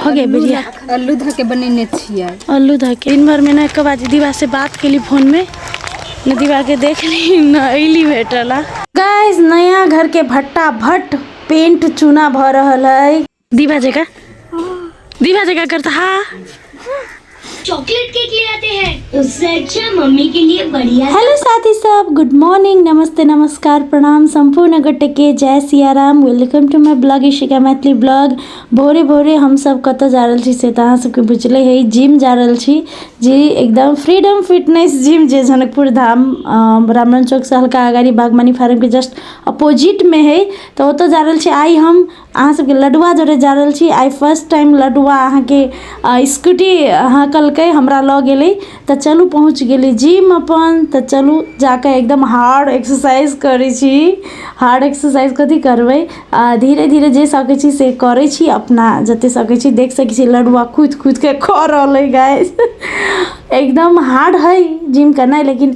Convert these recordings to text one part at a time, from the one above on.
हो गए बिरिया आलू धऽ के बनेने छियै आलू धऽ के दिन भरमे ने एक बार दीदीबा से बात केली फोनमे ने दीदीबा के देखली न अयली भेटला गाइस नया घर के भट्टा भट्ट पेंट चूना भऽ रहल है दीवा जगह दीवा जगह करता हा चॉकलेट केक ले आते हैं उससे अच्छा मम्मी के लिए बढ़िया हेलो साथी सब गुड मॉर्निंग नमस्ते नमस्कार प्रणाम संपूर्ण गोटे के जय Siya Ram welcome to my vlog Ishika Maithili vlog भोरे भोरे हम सब कत जा रहा छी से तो अहाँ सबके बुझले है जिम जा रहा छी जी एकदम फ्रीडम फिटनेस जिम जे जनकपुर धाम ब्राह्मण चौक से हल्का अगाड़ी बागमनी फार्म के जस्ट अपोजिट में है तो ओत जा रहा छी आई हम अहाँ सबके लडुआ जरे जा रहल छी आइ फर्स्ट टाइम लडुआ अहाँके स्कूटी हँकलकै हमरा लऽ गेलै तऽ चलू पहुँच गेली जिम अपन तऽ चलू जाकऽ एकदम हार्ड एक्सरसाइज करै छी हार्ड एक्सरसाइज कथी करबै धीरे धीरे जे सकै छी से करै छी अपना जते सकै छी देख सकै छी लडुआ कुदि कुदिके कऽ रहल अइ गाइस एकदम हार्ड हइ जिम केनाइ लेकिन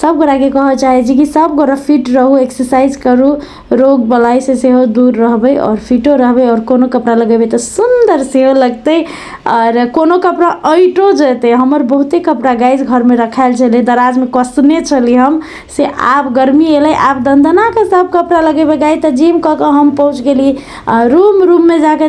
सब गोरा के कहऽ चाहे छी कि सब गोरा फिट रहू एक्सरसाइज करू रोग बलाई से सेहो दूर रहबै और फिटो रहबै और कोनो कपड़ा लगेबै तऽ सुंदर सेहो लगतै और कोनो कपड़ा अइटो जेतै हमर बहुते कपड़ा गाइज घर में रखायल छलै दराज में कसने छली हम से आब गर्मी एलै आब दनदना के सब कपड़ा लगेबै गाइज तऽ जिम कऽ के हम पहुँच गेली रूम रूम में जाके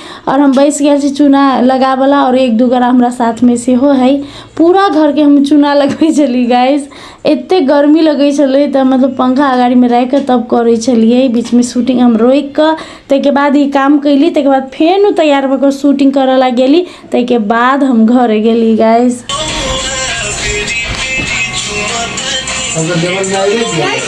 आओर हम बैस गेल छी चूना लगावला आओर एक दू गोरा हमरा साथमे सेहो हइ पूरा घरके हम चूना लगबै छलियै गाइस एते गर्मी लगै छलै तऽ मतलब पंखा अगाड़ीमे राखिके तब करै छलियै बीचमे शूटिंग हम रोकिके तैके बाद ई काम कयली तैके बाद फेनो तैयार भऽ कऽ शूटिंग करऽ लए गेली तैके बाद हम घरे गेली गाइस गाइस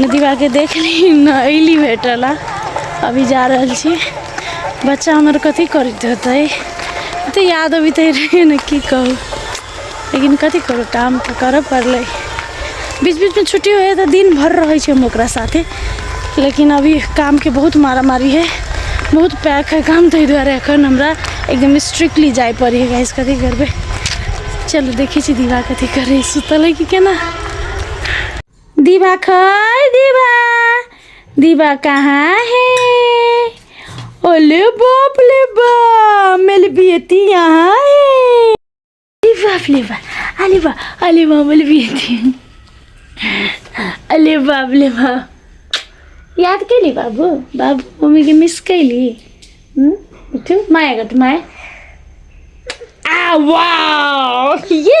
नदीबा के देख ली न अली भेटल अभी जा रहल छी बच्चा हमर कथी करते होते तो याद अभी तो रहे न की कहू लेकिन कथी करू काम तो कर पड़ल बीच बीच में छुट्टी हो तो दिन भर रहे हम ओकरा साथे लेकिन अभी काम के बहुत मारा मारी है बहुत पैक है काम ताहि दुआरे एखन हमरा एकदम स्ट्रिक्टली जाए पड़ी है गाइस कथी करबे चलो देखी छी दीवा कथी करे सुतल है कि केना दीवा खै दीवा दीवा कहाँ है ओले बाप ले बा मेरी बेटी यहाँ है दीवा फ्लेवा अरे वाह अरे वाह मेरी बेटी अरे बाप ले बा याद केली बाबू बाबू मम्मी के मिस केली उठू माया गट माया आ वाह ये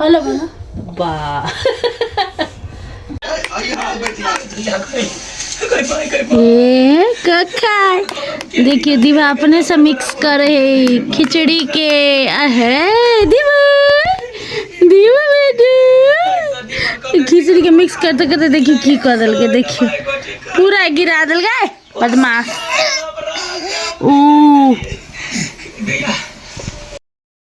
हलो बना बाह ए कखा देखिए दीवा अपने से मिक्स करे है खिचड़ी के अहे दीवा दीवा बेटे खिचड़ी के मिक्स करते करते देखिए की कर दिल के देखिए पूरा गिरा दिल गए बदमाश ओ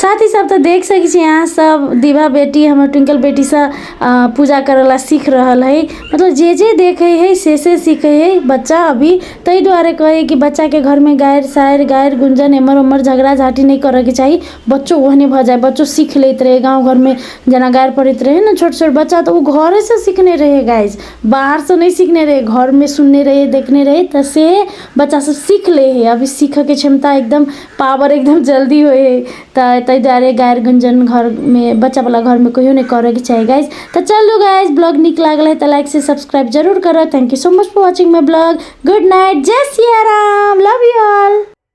साथ ही सब तऽ देख सकै छी अहाँ सब दिभा बेटी हमर ट्विंकल बेटी से अ, पूजा करे ला सीख रहल है मतलब जे जे देखे है से से सीखे है बच्चा अभी ताहि दुआरे कहे है कि बच्चा के घर में गायर सायर गायर गुंजन एमर उमर झगड़ा झाटी नहीं करे के चाही बच्चो ओहने भ जाए बच्चो सीख लेत रहे गांव घर में जना गायर पड़त रहे ना छोट छोट बच्चा तो उ घरे से सीखने रहे गाइस बाहर से नहीं सीखने रहे घर में सुनने रहे देखने रहे त से बच्चा सब सीख लै है अभी सीखऽके क्षमता एकदम पावर एकदम जल्दी होइ है तऽ ताहि दुआरे गारि गुञ्जन घरमे बच्चा बला घरमे कहियो नहि करऽके चाही गाइज तऽ चलू गाइज ब्लॉग नीक लागल है तऽ लाइक से सब्सक्राइब जरूर करब thank you so much for watching my vlog good night जय Siya Ram love you all